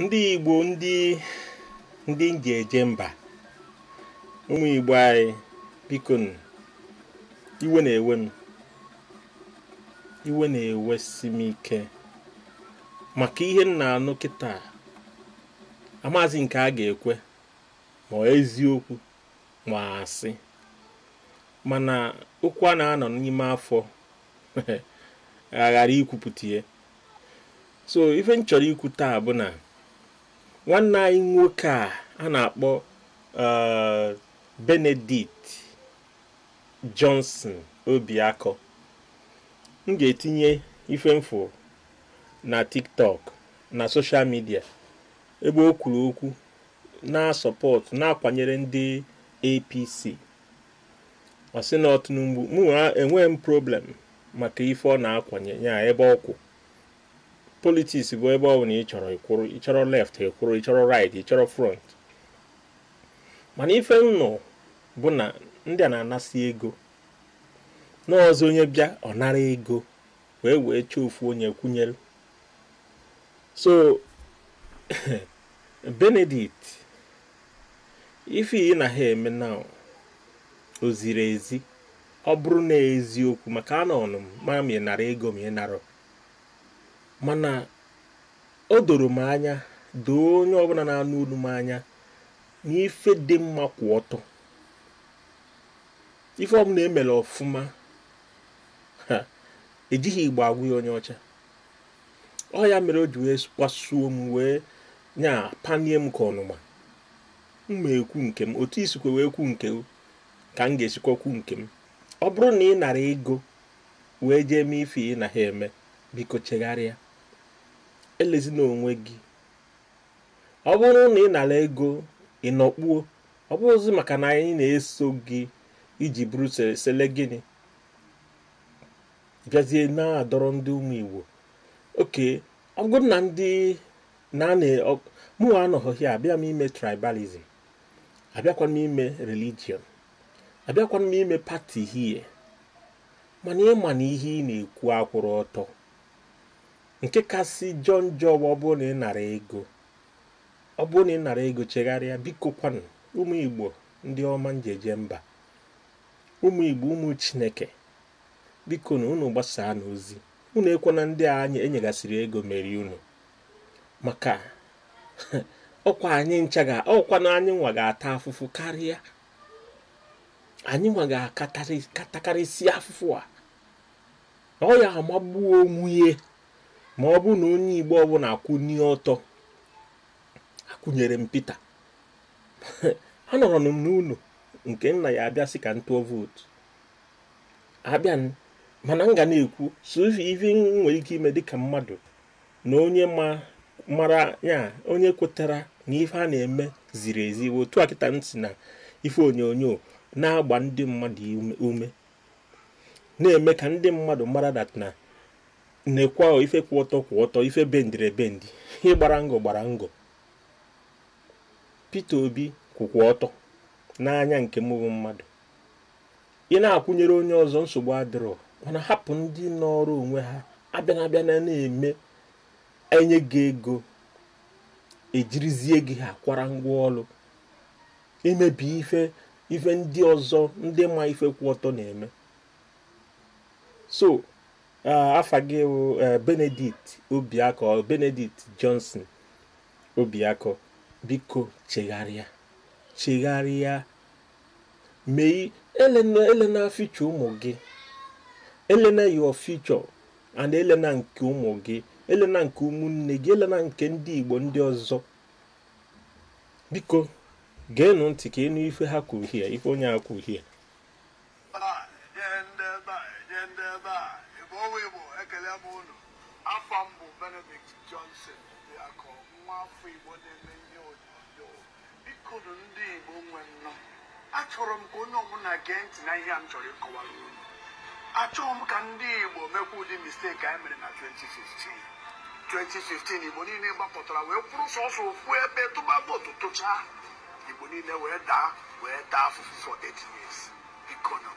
ndị Igbo ndị m ji eje mba ụmụ Igbo anyị biko iwe na-ewe m iwe na-ewesi m ike maka ihe m na-anụ kịta amazi nke a ga-ekwe ma eziokwu ma asị mana okwu a na-anọ n'ime afọ aghara ikwupụta ya so ife m chọrọ ikwu taa bụ na nwanne anyị nwoke a a na-akpọ uh, Benedict Johnson Obiakọ m ga-etinye ife m fụ na TikTok na social media ebe o kwuru okwu na-asupport na-akwanyere ndị APC ọ sị na ọ Tinubu mụnwa enweghị m problem maka ife ọ na-akwanye ya ebe ọ kwụ politics bụ ebe ọ bụla ị chọrọ ị kwụrụ ị chọrọ left ị kwụrụ ị chọrọ right ị chọrọ front mana ife m nụ bụ na ndị a na-anasị ego n'ụzọ onye bịa ọ nara ego wee wee chọọ ofu onye kwụnyere so Benedict ife gị na ha eme na o zirọ ezi ọ bụrụ na eziokwu maka anọ ọnụ m ma m ị nara ego ma ị nara mana o doro m anya doo onye ọbụla na-anụ olu m anya na ife dị mma kwụ ọtọ ife ọbụla emere ọfụma ejighị Igbo agwa ya onye ọcha ọ ya mere o ji wee kpasuo m wee nya kpanie m ka mụnwa m ekwu nke m otu i sikwa wee kwu nke ka m ga-esikwa kwu nke m ọ bụrụ na ị nara ego wee jee mee ife gị na ha eme biko chegharịa elezina onwe gị ọ bụrụ na ị nara ego ị nọkpuo ọ bụrụzi maka na anyị na-eso gị i ji bụrụ celebrity bịazie na-adọrọ ndị ụmụ Igbo ọ bụ na mụnwa anọghị ya abịa m ime tribalism abịakwa m ime religion abịakwa m ime party hie mana ị ma na ihe ị na-ekwu akwụrọ ọtọ nke kasị jọ njọ ọ bụrụ na ị nara ego ọ bụrụ na ị nara ego chegharịa biko kwanụ ụmụ Igbo ndị ọma m ji eje mba ụmụ Igbo ụmụ Chineke bikonu unu gbasaanụ ozi unu ekwena ndị a anyị enyegasịrị ego merie unu maka ọkwa anyị ncha ga ọkwa na anyị nwa ga-ata afụfụ karịa anyị nwa ga-aka atakarịsị afụfụ a ọ ya amagbuo onwe ya ma ọ bụ na onye Igbo ọbụna akwụnye ọtọ akwụnyere m Pita anọrọ m n'ụnọ nke nna ya abịa sị ka m tụọ vootu abịa mana m ga na-ekwu so ife m nwere ike ime dịka mmadụ na onye mara ya onye kwetara na ife a na-eme ziri ezi otu a kịta si na ife onyonyo na-agba ndị mmadụ ume na-eme ka ndị mmadụ mara dat na nekwanụ ife kwụ ọtọ kwụ ọtọ ife bendịrị ebendi ihe gbara ngọ gbara ngọ Peter Obi kwụkwa ọtọ n'anya nke mụ bụ mmadụ ị na-akwụnyere onye ọzọ nsogbu adịrọ mana hapụ ndị nọọrọ onwe ha abịana abịana na-eme enye gị ego ejirizie gị ha kwara ngwa ọlụ imebi ife ife ndị ọzọ ndị ma ife kwụ ọtọ na-eme so afa gị bụ Benedict Obiakọ Benedict Johnson Obiakọ biko chegharịa chegharịa mee elena elena future ụmụ gị elena your future and elena nke ụmụ gị elena nke ụmụnne gị elena nke ndị Igbo ndị ọzọ biko geenụ ntị ka ị nụ ife ha kwuru here ife onye a kwuru here afa m bụ Benedict Johnson Obiakọ nwa afọ Igbo na-eme ihe onyonyo bikonu ndị Igbo nwe nnọ achọrọ m ka onye ọbụla gee ntị na ihe a m chọrọ ịkọwara unu achọghị m ka ndị Igbo mekwa ụdị mistake anyị mere na 2015 2015 Igbo niile gbapụtara wee kwụrụ sọsọ ofu ebe tụba vootu tụchaa Igbo niile wee daa wee taa afụfụ for 8 years bikonu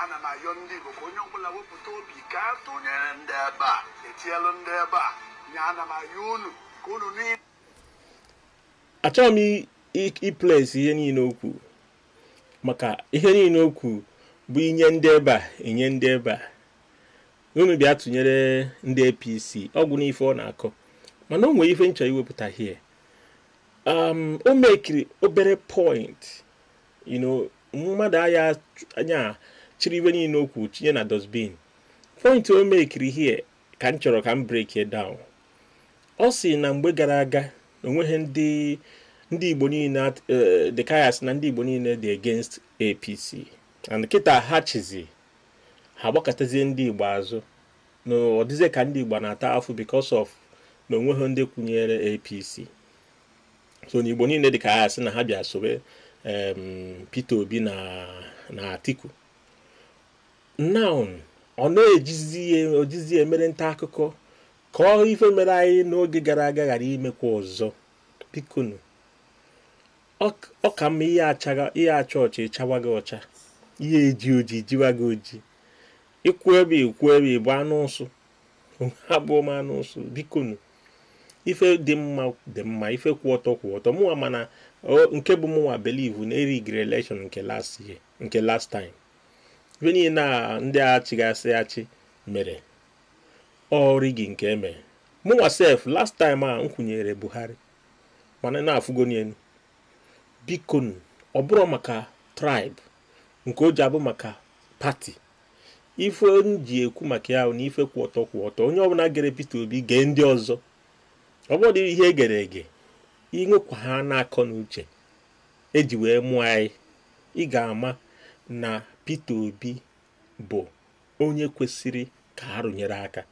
ana m ayọ ndị Igbo ka onye ọbụla wepụta obi ka a tụnyere ndị ebe a e tinyelụ ndị ebe a nya ana m ayọ unu ka unu niile achọghị m i- i- iplaysị ihe niile o kwuru maka ihe niile o kwuru bụ inye ndị ebe a enye ndị ebe a unu bịa tụnyere ndị APC ọ gwụ n'ife ọ na-akọ mana o nwere ife m chọ iwepụta here um, o mekiri obere point you know mmadụ aya ya chịrị ihe niile o kwuru tinye na dustbin point o mekiri here ka m chọrọ ka m break it down ọ sị na mgbe gara aga na onweghị ndị ndị Igbo niile eh, dị ka a sị na ndị Igbo niile dị against APC and kịta ha chịzị ha gbakụtazie ndị Igbo azụ na ọ dịzie ka ndị Igbo na-ata afụ because of na onweghị ndị kwụnyere APC so na Igbo niile dị ka a sị na ha bịa sobe Peter Obi na Atiku now ọ na-ejizi ya o jizi ya emere nta akụkọ ka ọ ife mere anyị n'oge gara aga ghara imekwa ọzọ bikonu ọ ka mma ị ya-acha ị ya-acha ọcha ị chawaga ọcha ị ya-eji oji jiwaga oji ị kwụ ebe ị kwụ ebe ị bụ anụ ụsụ abụrọ m anụ ụsụ bikonu ife dị mma dị mma ife kwụ ọtọ kwụ ọtọ mụnwa mana nke bụ mụnwa believe na e rigiri election nke last year nke last time ife niile na ndị a chịgasị achị mere ọ rigging ka e me mụnwa sef last time a m kwụnyere Buhari mana na-afụgo n'elu bikonu ọ bụrọ maka tribe nke o ji abụ maka party ife m ji ekwu maka ya na ife kwụ ọtọ kwụ ọtọ onye ọbụla gere Peter Obi gee ndị ọzọ ọ bụrụ ihe egere ege i nwekwa ha na akọ na uche e ji wee mụọ anyị ị ga-ama na Peter Obi bụ onye kwesịrị ka a rụnyere aka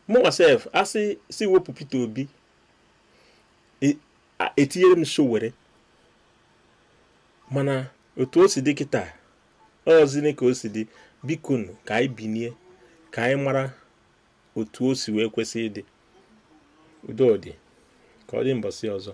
mụnwa sef a sị sị wepụ Peter Obi e, etinyere m Sowore mana otu o si dị kịta ọzini ka o si dị bikonu ka anyị binie ka anyị mara otu o si wee kwesị ịdị udo dị ka ọ dị mbọsị ọzọ